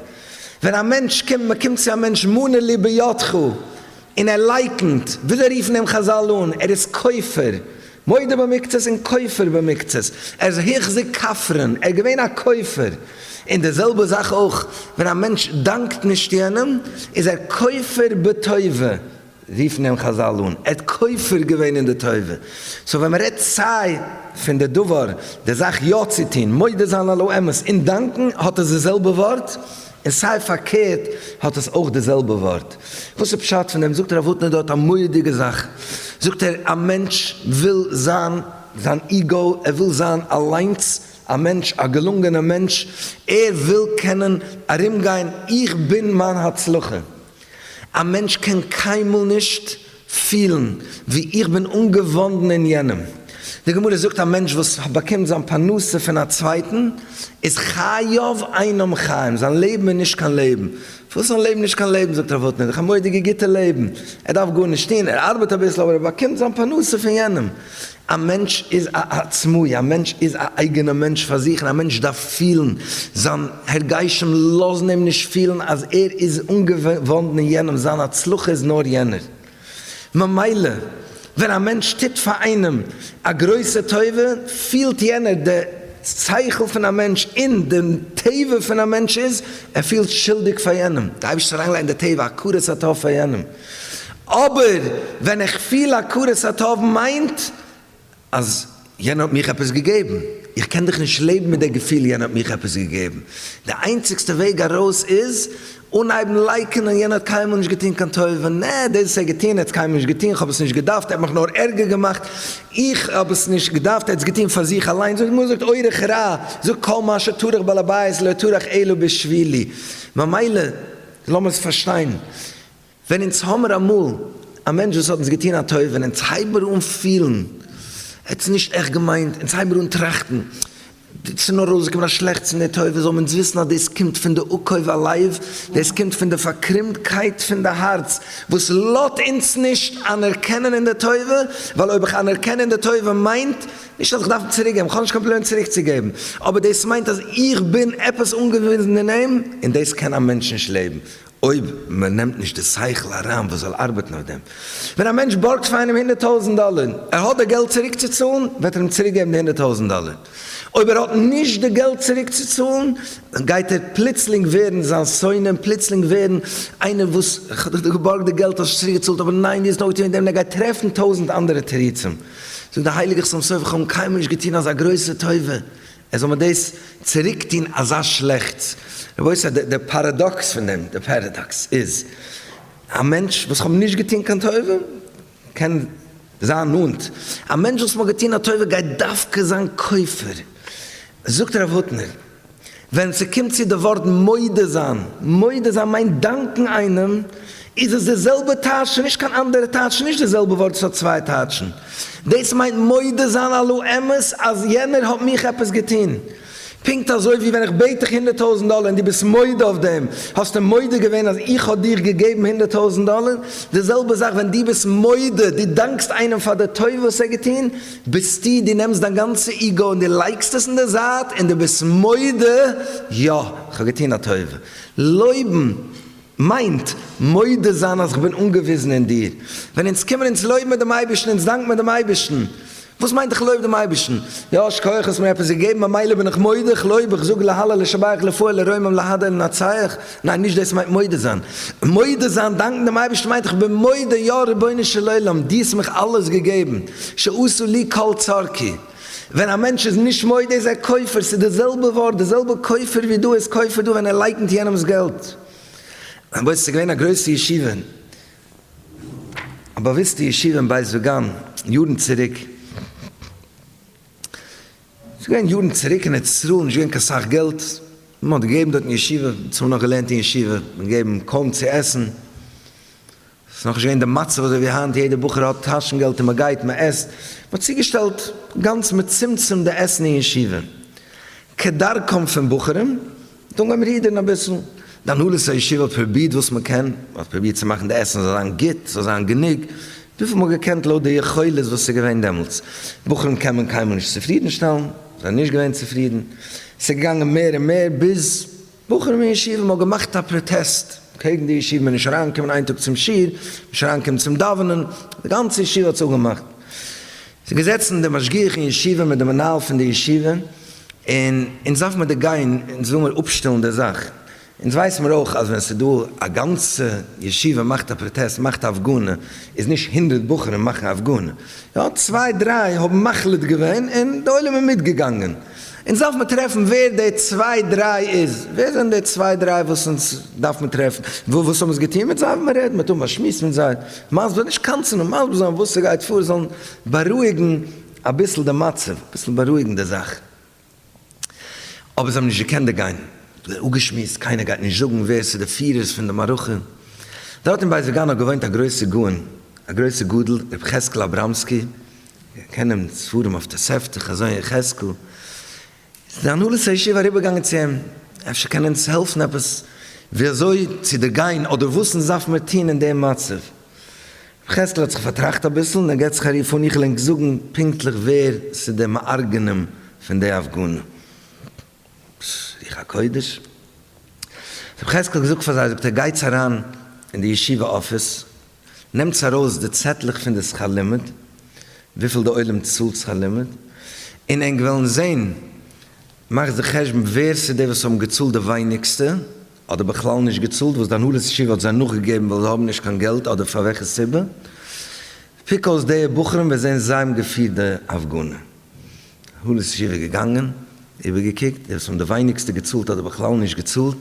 ווען א מענטש קומט, מען קומט צו א מענטש מנה לי בידך, און ער לייקנט, וויאזוי רופן אים חזל אן, ער איז כופר, מודה במקצת און כופר במקצת, ער איז החזיק כפרן, ער איז געווען א כופר, און די זעלבע זאך אויך ווען א מענטש דאנקט נישט יענעם איז ער כופר בטובה, רופן אים חזל אן, ער האט כופר געווען אין די טובה, סאו ווען מען רעדט סיי פון די דבר, די זאך יא צו טון, מודה זיין על האמת און דאנקן, האט עס די זעלבע ווארט. און סיי פארקערט האט עס אויך די זעלבע ווארט. וואס איז פשט פון דעם? זאגט הרב הוטנער דארט א מורא'דיגע זאך, זאגט ער, א מענטש וויל זיין, זיין איגאו, ער וויל זיין אליינס א מענטש, א געלונגענער מענטש, ער וויל קענען ארומגיין איך בין מיין הצלחה, א מענטש קען קיינמאל נישט פילן ווי איך בין אנגעוואנדן אין יענעם. די גמרא זאגט א מענטש וואס באקומט זיין פרנסה פון א צווייטן איז חייב אינם חיים, זיין לעבן איז נישט קיין לעבן. וואס זיין לעבן נישט קיין לעבן? זאגט ר' וואלף נידער, איך האב מורא'דיגע גוטע לעבן, ער דארף גארנישט טון, ער ארבעט אביסל אבער ער באקומט זיין פרנסה פון יענעם, א מענטש איז א עצמאי, א מענטש איז א אייגענע מענטש פאר זיך און א מענטש דארף פילן, זיין הרגשים לאזן אים נישט פילן אז ער איז אנגעוואנדן אין יענעם, זיין הצלחה איז נאר יענער, ממילא ווען א מענטש טוט פאר איינעם א גרויסע טובה פילט יענער, די שכל פון א מענטש און די טבע פון א מענטש איז ער פילט שולדיג פאר יענעם, די אייבערשטער אריינגעלייגט אין די טבע הכרת הטוב פאר יענעם. אבער ווען איך פיל הכרת הטוב מיינט אז יענער האט מיך עפעס געגעבן, איך קען דאך נישט לעבן מיט די געפיל יענער האט מיך עפעס געגעבן, די איינציגסטע וועג ארויס איז אנהייבן לייקענען יענער האט קיינמאל נישט געטון קיין טובה, נע דאס וואס ער האט געטון ער האט עס קיינמאל נישט געטון, איך האב עס נישט געדארפט ער האט מיך נאר ערגער געמאכט, איך האב עס נישט געדארפט ער האט עס געטון פאר זיך אליין, די גמרא זאגט אורח רע זאגט כל מה שטרח בעל הבית לא טרח אלא בשבילי, ממילא לאמיר עס פארשטיין, ווען אונז האמער אמאל א מענטש וואס האט אונז געטון א טובה און אונז הייבער אן פילן ער האט עס נישט עכט געמיינט, אונז הייבער אן טראכטן ס'איז נאר ארויסגעקומען א שלעכטס פון די טובה, זאלן אונז וויסן אז דאס קומט פון די עקוב הלב, דאס קומט פון די פארקרומטקייט פון די הארץ וואס לאט אונז נישט אנערקענען אין די טובה, ווייל אויב איך אנערקען אין די טובה מיינט נישט אז איך דארף צוריקגעבן, איך האב נישט קיין פלען צוריקצוגעבן, אבער דאס מיינט אז איך בין עפעס אנגעוויזן אין אים, און דאס קען א מענטש נישט לעבן, אויב מען נעמט נישט די שכל אריין וואס זאל ארבעטן אויף דעם. ווען א מענטש בארגט פאר איינעם הונדערט טויזנט דאלער, ער האט די געלט צוריק צו צאלן, וועט ער אים צוריק געבן די הונדערט טויזנט דאלער. אויב ער האט נישט די געלט צוריק צו צאלן, גייט ער פלוצלינג ווערן זיין שונא, און פלוצלינג ווערן איינער וואס, כ'האב דיך דאך געבארגט די געלט, האסט נישט צוריק געצאלט, אבער ניין דו האסט נאכגעטון דעם, און ער גייט טרעפן טויזנט אנדערע תירוצים. זאגט דער הייליגער חתם סופר, כ'האב אים קיינמאל נישט געטון אזא גרויסע טובה, עס זאל מיר דאס צוריק טון אזא שלעכטס. רבותי, דער פאראדאקס פון דעם, דער פאראדאקס איז, א מענטש וואס איך האב נישט געטון קיין טובה, קען זיין נאנט, א מענטש וואס מ'האט געטון א טובה גייט דווקא זיין כופר. זאגט הרב הוטנער, ווען ס'קומט צו די ווארט מודה זיין, מודה זיין מיינט דאנקן איינעם, איז עס די זעלבע טייטש? נישט קיין אנדערע טייטש? נישט די זעלבע ווארט? עס האט צוויי טייטשן. דאס מיינט מודה זיין על האמת אז יענער האט מיך עפעס געטון. פונקט אזוי ווי ווען איך בעט דיך הונדערט טויזנט דאלער און דו ביסט מודה אויף דעם, האסטו מודה געווען אז איך האב דיר געגעבן הונדערט טויזנט דאלער. די זעלבע זאך ווען דו ביסט מודה, דו דאנקסט איינעם פאר די טובה וואס ער האט געטון, ביסטו, דו נעמסט דיין גאנצע איגאו און דו לייגסט עס אין די זייט און דו ביסט מודה, יא, איך האב געטון א טובה. לויבן. מיינט, מודה זיין אז כ'בין אנגעוויזן אין דיר. ווען אונז קומען אונז לויבן דעם אייבערשטן, אונז דאנק מיר דעם אייבערשטן. וואס מיינט איך לויב דעם אייבערשטן? יא, שכוח האסט מיר עפעס געגעבן, ממילא בין איך מודה, איך לויב, איך זאג להלל, לשבח, לפאר, לרומם, להדר, לנצח. ניין, נישט דאס מיינט מודה זיין. מודה זיין, דאנקן דעם אייבערשטן מיינט איך בין מודה, יא, רבונו של עולם, דו האסט מיך אלעס געגעבן, שעשה לי כל צרכי. ווען א מענטש איז נישט מודה איז ער כופר, ס'איז די זעלבע ווארט, די זעלבע כופר ווי דא איז כופר דא ווען ער לייקנט יענעמ'ס געלט. רבותי ס'איז געווען א גרויסע ישיבה, א באוויסטע ישיבה אין בית וגן יארן צוריק, ס'איז געווען יארן צוריק אין ארץ ישראל נישט געווען קיין סאך געלט, מ'האט געגעבן דארט אין ישיבה, מ'האט צומאל נאך געלערנט אין ישיבה, געגעבן קוים צו עסן, ס'איז נאכנישט געווען די מצב אזוי ווי היינט, יעדע בחור האט טאשן געלט און מען גייט מען עסט, מען האט צוגעשטעלט גאנץ מצומצם די עסן אין ישיבה, כדרכם פון בחורים, דאן גיימיר רודערן אביסל, די הנהלת הישיבה האט פרובירט וואס מען קען, מען האט פרובירט צו מאכן די עסן זאל זיין גוט, ס'זאל זיין גענוג, וויפיל מען האט געקענט לויט די יכולת וואס ס'איז געווען דעמאלטס, בחורים קען מען קיינמאל נישט צופרידן שטעלן, זיי זענען נישט געווען צופרידן, ס'איז געגאנגען מער און מער ביז. בחורים אין ישיבה האבן געמאכט א פראטעסט קעגן די ישיבה מען נישט אריין קומען איין טאג צום שיעור, נישט אריין קומען צום דאווענען, די גאנצע ישיבה האט זיך אפגעמאכט, זיי געזעצן די משגיח אין ישיבה מיט די מנהל פון די ישיבה, און אונז דארף מיר דא גיין, אונז וויל מיר אפשטעלן די זאך, אונז ווייס מיר אויך אז ווען ס'איז דא א גאנצע ישיבה מאכט א פראטעסט מאכט א הפגנה, איז נישט הונדרעט בחורים מאכן א הפגנה, יא צוויי דריי האבן מחליט געווען און די עולם איז מיטגעגאנגען. אונז דארף מען טרעפן ווער די צוויי דריי איז, ווער זענען די צוויי דריי וואס אונז דארף מען טרעפן, וואס האבן עס געטון מיט זיי, ווען מען רעדט מיט און באשמועסט מיט זיי, מסביר נישט קמצן און מסביר זיין וואס ס'גייט פאר, זאלן בארואיגן אביסל די מצב, אביסל בארואיגן די זאך, אבער זיי האבן נישט געקענט דערגיין, אפגעשמועסט, קיינער גייט נישט זאגן ווער ס'איז די פירערס פון די מערכה, דארט אין בית וגן האט געוואוינט א גרויסע גאון, א גרויסע גדול, ר' חזקל אבראמסקי, איך קען אים ספרים אויף תוספתא, חזון יחזקאל, איז די הנהלת הישיבה אריבערגעגאנגען צו אים, אפשר קען ער אונז העלפן עפעס ווי אזוי צו דערגיין אדער וואס אונז דארף מיר טון אין דעם מצב. ר' חזקאל האט זיך פארטראכט אביסל און ער געבט זיך א רוף אן איך וועל ענק זאגן פונקטליך ווער ס'איז די מארגנים פון די הפגנה. רוח הקודש האט ר' חזקאל געזאגט פאר זיי זאגט ער גייטס אריין אין די ישיבה אפיס נעמטס ארויס די צעטלעך פון די שכר לימוד, וויפיל די עולם צאלט שכר לימוד, און ענק וועלן זען, מאכטס די חשבון ווער ס'איז די וואס האבן געצאלט די ווייניגסטע, אדער בכלל נישט געצאלט, וואס די הנהלת ישיבה האט זיי נאכגעגעבן ווייל זיי האבן נישט קיין געלט אדער פאר וועלכע סיבה, פיק אויס די בחורים וועסט זען זיי האבן געפירט די הפגנה. הנהלת ישיבה איז געגאנגען, איבערגעקוקט, די וואס האבן די ווייניגסטע געצאלט אדער בכלל נישט געצאלט,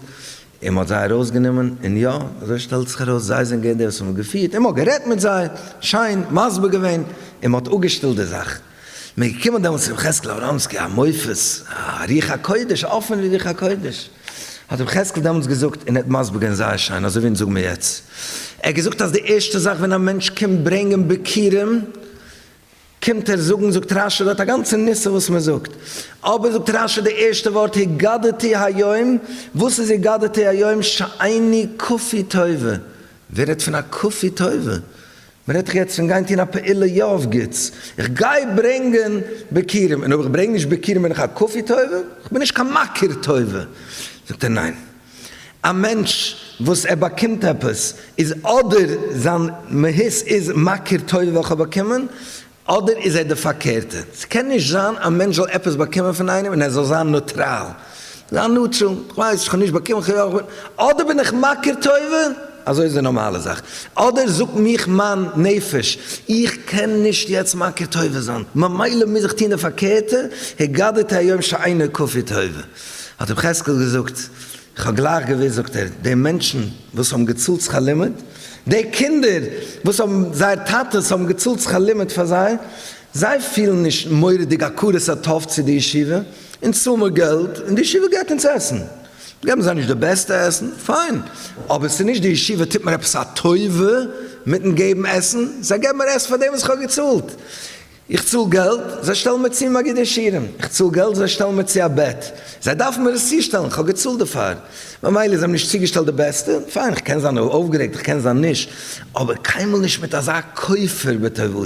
און מען האט זיי ארויסגענומען, און יא, אזוי שטעלט זיך ארויס, זיי זענען געווען די וואס האבן געפירט, און מען האט גערעדט מיט זיי, שיין מסביר געווען, און מען האט אפגעשטילט די זאך. מען איז געקומען דעמאלטס צו ר' יחזקאל אבראמסקי, א מופת, א רוח הקודש, אפען ווי רוח הקודש, האט ר' יחזקאל דעמאלטס געזאגט, און ער האט מסביר געווען זייער שיין, אזוי ווי אונז זאגן מיר יעצט, ער האט געזאגט אז די ערשטע זאך ווען א מענטש קומט ברענגען ביכורים, קומט ער זאגן זאגט רש י דארט א גאנצע נושא וואס מען זאגט, אבער זאגט רש י די ערשטע ווארט הגדתי היום, וואס איז הגדתי היום שעיני כפי טובה, ווער רעדט פון א כפי טובה, מען רעדט דאך יעצט פון גיין טון א פעולה יא אויף גוטס, איך גיי ברענגען ביכורים און אויב איך ברענג נישט ביכורים בין איך א כפי טובה? איך בין נישט קיין מכיר טובה, זאגט ער ניין. א מענטש וואס ער באקומט עפעס איז אדער זיין מהות איז מכיר טובה וועל איך באקומען, אדער איז ער די פארקערטע. ס'קען נישט זיין א מענטש זאל עפעס באקומען פון איינעם און ער זאל זיין נוטראל, זיין נוטראל, איך ווייס איך האב נישט באקומען, איך האב יא, אדער בין איך מכיר טובה, אזוי איז די נארמאלע זאך, אדער זאגט מיך מיין נפש, איך קען נישט יעצט מכיר טובה זיין, ממילא מוז איך טון די פארקערטע, הגדת היום שאינו כפי טובה. האט אים חזקאל געזאגט, איך האב גלייך געוואוסט, זאגט ער, די מענטשן וואס האבן געצאלט שכר לימוד, די קינדער וואס האבן זייער טאטעס האבן געצאלט שכר לימוד פאר זיי, זיי פילן נישט מורא'דיג הכרת הטוב צו די ישיבה, אונז צאלן מיר געלט און די ישיבה געבט אונז עסן, געבן זיי נישט די בעסטע עסן, פיין, אבער ס'איז נישט די ישיבה טוט מיר עפעס א טובה מיטן געבן עסן, זיי געבן מיר עסן פאר דעם וואס איך האב געצאלט. איך צאל געלט, זיי שטעלן מיר צו מגידי שירים, איך צאל געלט, זיי שטעלן מיר צו א בעט, זיי דארפן מיר עס צושטעלן, איך האב געצאלט דערפאר, ממילא זיי האבן נישט צוגעשטעלט די בעסטע, פיין, איך קען זיין אויפגערעגט, איך קען זיין נישט, אבער קיינמאל נישט מיט אזא כופר בטובתו,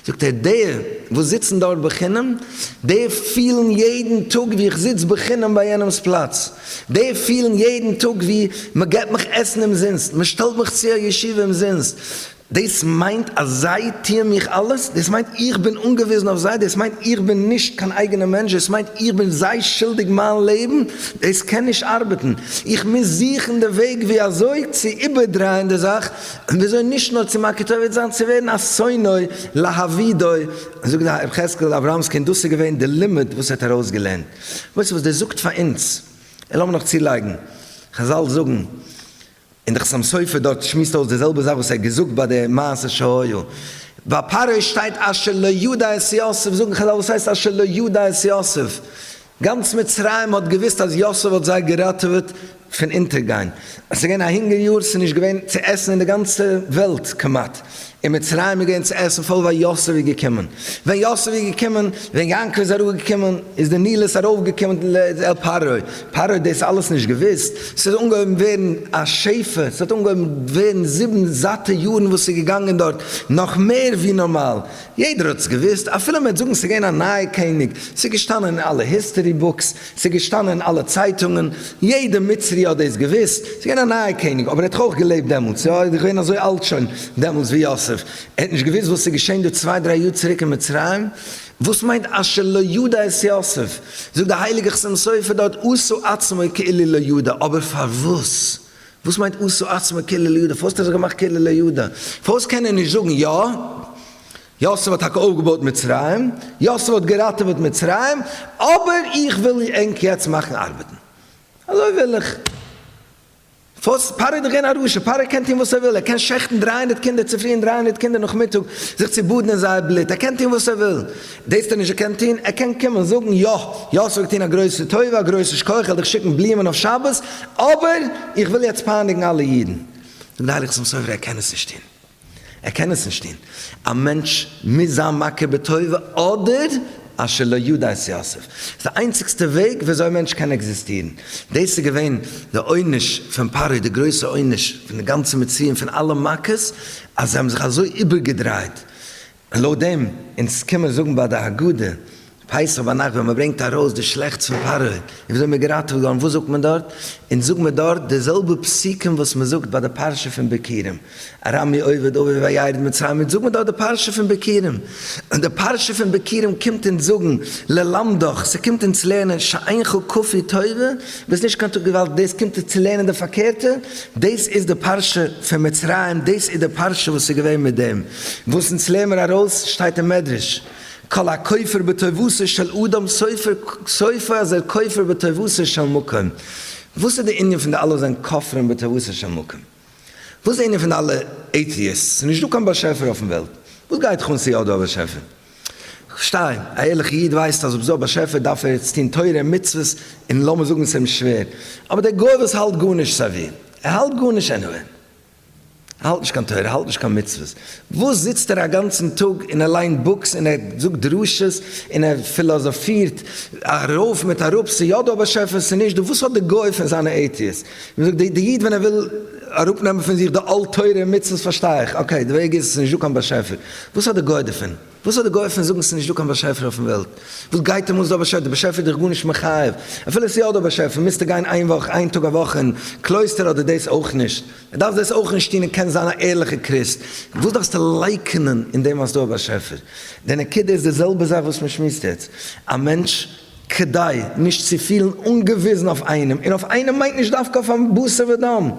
זאגט ער, די וואס זיצן דארט בחינם, די פילן יעדן טאג ווי איך זיץ בחינם ביי יענעמ'ס פלאץ, די פילן יעדן טאג ווי מען געבט מיך עסן אומזינסט, מען שטעלט מיך צו א ישיבה אומזינסט, דאס מיינט אז זיי טוען מיך אלעס? דאס מיינט איך בין אנגעוויזן אויף זיי? דאס מיינט איך בין נישט קיין אייגענע מענטש? דאס מיינט איך בין זיי שולדיג מיין לעבן? דאס קען נישט ארבעטן, איך מוז זוכן די וועג ווי אזוי צו איבערדרייען די זאך, און ווי אזוי נישט נאר צו מקוטב זיין צו ווערן א שונאי להבידוי, זאגט ר' יחזקאל אברמסקי, און דאס איז געווען די לימוד וואס ער האט ארויסגעלערנט. ווייסט וואס דאס זאגט פאר אונז? און לאמיר נאך צולייגן, חזל זאגן, און דער חתם סופר דארט שמועסט אויס די זעלבע זאך וואס ער האט געזאגט ביי די מעשה שהיה ביי פרעה שטייט אשר לא ידע את יוסף, זאגן חזל וואס הייסט אשר לא ידע את יוסף? גאנץ מצרים האט געוואוסט אז יוסף האט זיי געראטעוועט פון אונטערגיין, עס איז געווען א הונגער יאר, עס איז נישט געווען צו עסן אין די גאנצע וועלט כמעט, אין מצרים איז געווען צו עסן פול ווייל יוסף איז געקומען. ווען יוסף איז געקומען, ווען יעקב איז אראפגעקומען, איז די ניל איז ארויפגעקומען אל פרעה. פרעה האט דאס אלעס נישט געוואוסט. ס'איז אנגעהויבן ווערן א שפע, ס'האט אנגעהויבן ווערן זיבן זאטע יארן וואס ס'איז געגאנגען דארט נאך מער ווי נארמאל. יעדער האט עס געוואוסט, אפילו מ'וועט זאגן ס'איז געווען א נייער קעניג, ס'איז געשטאנען אין אלע היסטערי בוקס, ס'איז געשטאנען אין אלע צייטונגען, יעדע מצרי האט דאס געוואוסט, ס'איז געווען א נייער קעניג, אבער ער האט דאך אויך געלעבט דעמאלטס, יא ער איז דאך געווען אזוי אלט שוין דעמאלטס ווי יוסף, ער האט נישט געוואוסט וואס איז געשען דא צוויי דריי יאר צוריק אין מצרים, וואס מיינט אשר לא ידע את יוסף, זאגט די הייליגע חתם סופר דארט עשה עצמו כאילו לא ידע, אבער פארוואס? וואס מיינט עשה עצמו כאילו לא ידע? פארוואס האט ער זיך געמאכט כאילו לא ידע? פארוואס קען ער נישט זאגן יא? יוסף האט טאקע אויפגעבויט מצרים, יוסף האט געראטעוועט מצרים, אבער איך וויל ענק יעצט מאכן ארבעטן. אזוי וויל איך. פארוואס? פרעה איז דאך געווען א רשע, פרעה קען טון וואס ער וויל, ער קען שעכטן דרײַ הונדערט קינדער צופרי און דרײַ הונדערט קינדער נאכמיטאג, זיך צו באדן אין זייער בלוט, ער קען טון וואס ער וויל. דאס טאר נישט ער קען טון, ער קען קומען זאגן, יא, יוסף האט געטון א גרויסע טובה, א גרויסע שכח, איך וועל דיך שיקן בלומען אויף שבת, אבער איך וויל יעצט פייניגן אלע אידן. זאגט די הייליגע שם סופר, ער קען עס נישט טון. ער קען עס נישט טון. א מענטש מוז זיין מכיר בטוב אדער אשר לא ידע את יוסף. ס'איז די איינציגסטע וועג וויאזוי א מענטש קען עקזיסטירן. דאס איז געווען די עונש פון פרעה, די גרויסע עונש פון די גאנצע מצרים, פון אלע מכות, אז זיי האבן זיך אזוי איבערגעדרייט און לויט דעם, אונז קען מען זאגן ביי די הגדה, פסח ביינאכט ווען מען ברענגט ארויס די שלעכטס פון פרעה און וויאזוי מען איז געראטעוועט געווארן, וואס זאגט מען דארט? אונז זאגט מען דארט די זעלבע פסוקים וואס מען זאגט ביי די פרשה פון ביכורים, ארמי עובד אבי וירד מצרים, אונז זאגט מען דארט די פרשה פון ביכורים, און די פרשה פון ביכורים קומט אונז זאגן ללמדך, ס'קומט אונז לערנען שאינך כפי טובה, ביסט נישט קיין טוב געוואלדיג, דאס קומט אונז צו לערנען די פארקערטע, דאס איז די פרשה פון מצרים, דאס איז די פרשה וואס איז געווען מיט דעם. וואס אונז לערן מיר ארויס שטייט אין מדרש, כל הכופר בטובתו של אדם סופו אז ער כופר בטובתו של מקום, וואס איז די ענין פון די אלע זיין כופרים בטובתו של מקום? וואס די ענין פון די אלע עיטיעסטס? ס'איז נישט דא קיין באשעפער אויפן וועלט, וואס גייט דיך אן צו יא איז דא א באשעפער? כ'פארשטיי, א ערליכע איד ווייסט אז אויב איז דא א באשעפער דארף ער עפעס טון תורה און מצוות און לאמיר זאגן ס'איז אים שווער, אבער דער גוי וואס האלט גארנישט סביר, ער האלט גארנישט עניוועי. האלט נישט קיין תורה, האלט נישט קיין מצוות, וואס זיצט ער א גאנצן טאג און ער ליינט בוקס און ער זאגט דרשות און ער פילאזאפירט ארויף מיט אראפ, ס'איז יא דא א באשעפער, ס'איז נישט דא, וואס האט די גוי פון זיינע עיטיעס, ווי מ'זאגט די איד ווען ער וויל אראפ נעמען פון זיך די עול תורה און מצוות פארשטיי איך, אקעי די וועג איז ס'איז נישט דא קיין באשעפער, וואס האט די גוי דערפון? וואס האט די גוי פון זאגן ס'איז נישט דא קיין באשעפער אויפן וועלט? וואס גייט אים אן איז דא א באשעפער? די באשעפער איז דיך גארנישט מחייב. אפילו ס'איז יא דא א באשעפער מוזטו גיין איין וואך איין טאג א וואך אין קלויסטער אדער דאס אויך נישט. ער דארף דאס אויך נישט טון און קען זיין א ערליכע קריסט. וואס דארפסטו לייקענען אין דעם אז ס'איז דא א באשעפער? די נקודה איז די זעלבע זאך וואס מ'שמועסט יעצט. א מענטש כדי נישט צו פילן אנגעוויזן אויף איינעם, און אויף איינעם מיינט נישט דווקא אויף א בשר ודם,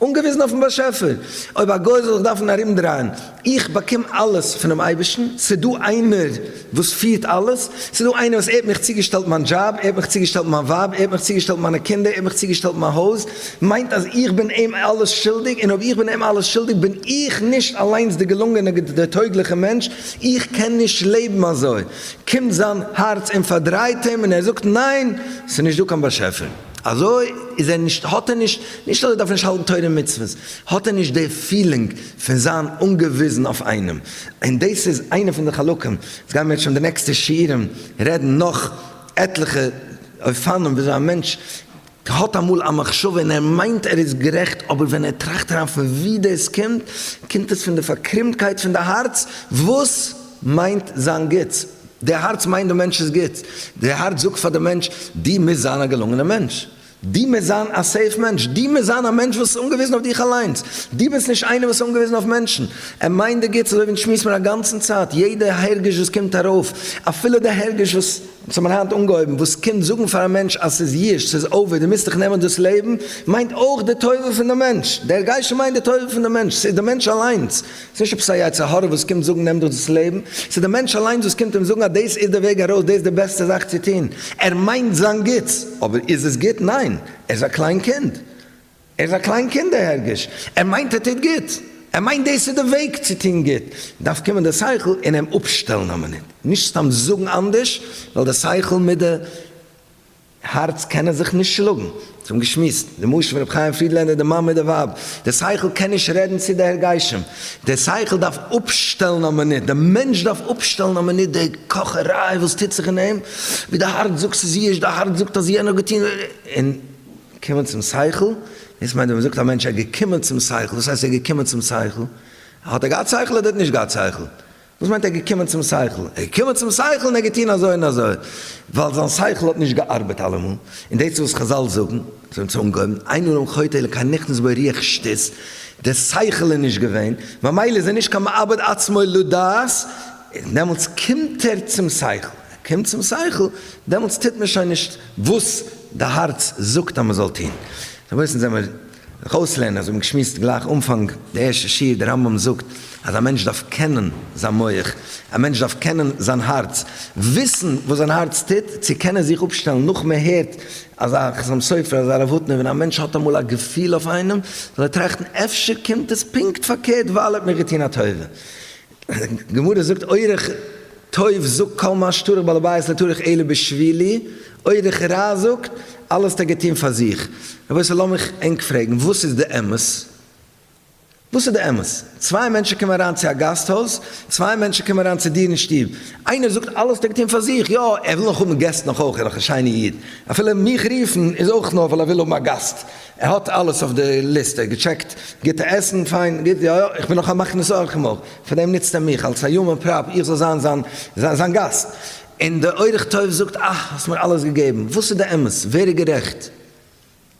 אנגעוויזן אויפן באשעפער, אויב א גוי זאל זיך דארפן ארומדרייען, איך באקום אלעס פונעם אייבערשטן, ס'איז דא איינער וואס פירט אלעס, ס'איז דא איינער וואס ער האט מיך צוגעשטעלט מיין דזשאב, ער האט מיך צוגעשטעלט מיין ווייב, ער האט מיך צוגעשטעלט מיינע קינדער, ער האט מיך צוגעשטעלט מיין הויז, מיינט אז איך בין אים אלעס שולדיג, און אויב איך בין אים אלעס שולדיג בין איך נישט אליינס די געלונגענע דער טויגליכע מענטש, איך קען נישט לעבן אזוי. קומט זיין הארץ און פארדרייט אים און ער זאגט ניין ס'איז נישט דא קיין באשעפער אזוי איז ער נישט האט ער נישט נישט אז ער דארף נישט האלטן תורה און מצוות האט ער נישט די פילינג פון זיין אנגעוויזן אויף איינעם און דאס איז איינע פון די חלקים עס גייען מיר שוין די נעקסטע שיעורים רעדן נאך עטליכע אופנים וויאזוי א מענטש כהאט אמאל א מחשבה און ער מיינט ער איז גערעכט אבער ווען ער טראכט אריין פון ווי דאס קומט, קומט עס פון די פארקרומטקייט פון די הארץ וואס מיינט זיין גוטס, די הארץ מיינט די מענטש'ס גוטס, די הארץ זאגט פאר די מענטש דו מוזט זיין א געלונגענע מענטש, דו מוזט זיין א סעיף מענטש, דו מוזט זיין א מענטש וואס איז אנגעוויזן אויף דיך אליינס, דו ביסט נישט איינער וואס איז אנגעוויזן אויף מענטשן, ער מיינט די גוטס אזוי ווי אונז שמועסט מיר א גאנצן צייט יעדע הרגש וואס קומט ארויף אפילו די הרגש וואס. אונז האבן היינט אנגעהויבן וואס קומט זאגן פאר א מענטש אז ס'איז יש, ס'איז אווער, דו מוזט דיך נעמען דאס לעבן, מיינט אויך די טובה פון די מענטש, דער גייסטשע מיינט די טובה פון די מענטש, ס'איז די מענטש אליינס, ס'איז נישט עפעס א יצר הרע וואס קומט זאגן נעם דיך דאס לעבן, ס'איז די מענטש אליינס וואס קומט אים זאגן אז דאס איז די וועג ארויס, דאס איז די בעסטע זאך צו טון, ער מיינט זיין גוטס, אבער איז עס גוט? ניין, ער איז א קליין קינד. ער איז א קליין קינד דער הרגש, ער מיינט ער טוט גוט, ער מיינט דאס איז די וועג צו טון גוט, דארף קומען דער שכל און אים אפשטעלן א מינוט, נישט סתם זאגן אנדערש, ווייל דער שכל מיט די הארץ קענען זיך נישט שלאגן, אונז האבן געשמועסט די משל פון רבי חיים פרידלענדער די מאן מיט די ווייב, דער שכל קען נישט רעדן צו די הרגשים, דער שכל דארף אפשטעלן א מינוט, דער מענטש דארף אפשטעלן א מינוט די קאכעריי וואס טוט זיך אין אים, ווי די הארץ זאגט ס'איז אידיש, די הארץ זאגט אז יענער האט געטון, און. קומען צום שכל, דאס מיינט ווען מ'זאגט א מענטש ער איז געקומען צום שכל, וואס הייסט ער איז געקומען צום שכל? האט ער געהאט שכל אדער האט ער נישט געהאט שכל? וואס מיינט ער איז געקומען צום שכל? ער איז געקומען צום שכל און ער האט געטון אזוי און אזוי, ווייל זיין שכל האט נישט געארבעט אלעמאל, און דאס איז וואס חזל זאגן, זיי האבן צו אנגעהויבן, אין ארום חוטא אלא כעין נכנס בו ריח שטות, די שכל איז נישט געווען, ממילא איז ער נישט קיין מאבד עצמו לדעת, און דעמאלטס קומט ער צום שכל, ער קומט צום שכל, דעמאלטס טוט מען שוין נישט. וואס די הארץ זאגט אז מען זאל טון. דער מוסר זעמער זיך אויסלערנען, אזוי ווי געשמועסט גלייך אנפאנג די ערשטע שיעור, דער רמב ם זאגט אז א מענטש דארף קענען זיין מח, א מענטש דארף קענען זיין הארץ, וויסן וואס זיין הארץ טוט, צו קענען זיך אפשטעלן נאך מען הערט אזא חתם סופר, אזא רב הוטנער, ווען א מענטש האט אמאל א געפיל אויף איינעם, זאל ער טראכטן אפשר קומט עס פונקט פארקערט ווייל ער האט מיר געטון א טובה. גמרא זאגט אורח טוב זאגט כל מה שטרח בעל הבית לא טרח אלא בשבילי, אורח רע זאגט אלעס האט ער געטון פאר זיך, רבותי לאמיך ענק פרעגן וואס איז די אמת? וואס איז די אמת? צוויי מענטשן קומען אריין צו א גאסט הויז, צוויי מענטשן קומען אריין צו דיר אין שטוב, איינער זאגט אלעס האט ער געטון פאר זיך, יא ער וויל נאך האבן געסט נאך אויך, ער איז דאך א שיינע איד, אפילו מיך רופן איז אויך נאר ווייל ער וויל האבן א גאסט, ער האט אלעס אויף די ליסט, ער האט געטשעקט גוטע עסן, פיין, גוט, יא יא, איך בין נאך א מכניס אורחים אויך, פאר דעם נוצט ער מיך אלס א יומען פראפ איך זאל זיין זיין זיין גאסט, און דער אורח טוב זאגט אה האסט מיר אלעס געגעבן, וואס איז די אמת, ווער איז גערעכט?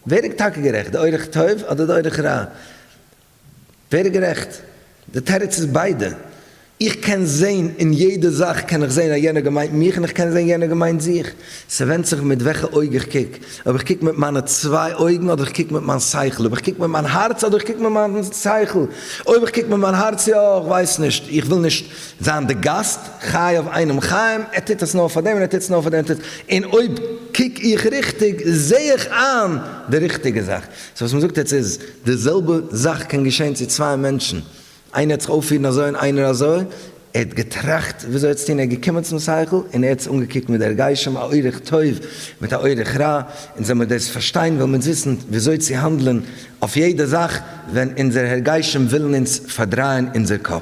ווער איז טאקע גערעכט, די אורח טוב אדער די אורח רע? ווער איז גערעכט? די תירוץ איז ביידע. איך קען זעהן אין יעדע זאך קען איך זעהן אז יענער געמיינט מיך און איך קען זעהן יענער געמיינט זיך. ס'ווענדט זיך מיט וועלכע אויג איך קוק. אויב איך קוק מיט מיינע צוויי אויגן אדער איך קוק מיט מיין שכל. אויב איך קוק מיט מיין הארץ אדער איך קוק מיט מיין שכל. אויב איך קוק מיט מיין הארץ יא, איך ווייס נישט. איך וויל נישט זיין די גאסט. חייב איינעם חיים. ער טוט עס נאר פאר דעם און ער טוט עס נאר פאר דעם. און אויב קוק איך ריכטיג זעה איך איין די ריכטיגע זאך. סאו וואס מ'זאגט יעצט איז, די זעלבע זאך קען געשען צו צוויי מענטשן, איינער האט זיך אויפירן אזוי און איינער אזוי, ער האט געטראכט וויאזוי עס צו טון, ער איז געקומען צום שכל און ער האט עס אנגעקוקט מיט די הרגשים, א אורח טוב מיט א אורח רע, אונז ווען מיר דאס פארשטיין וועלן מיר וויסן וויאזוי צו האנדלען אויף יעדע זאך ווען אונזערע הרגשים ווילן אונז פארדרייען אונזער קאפ.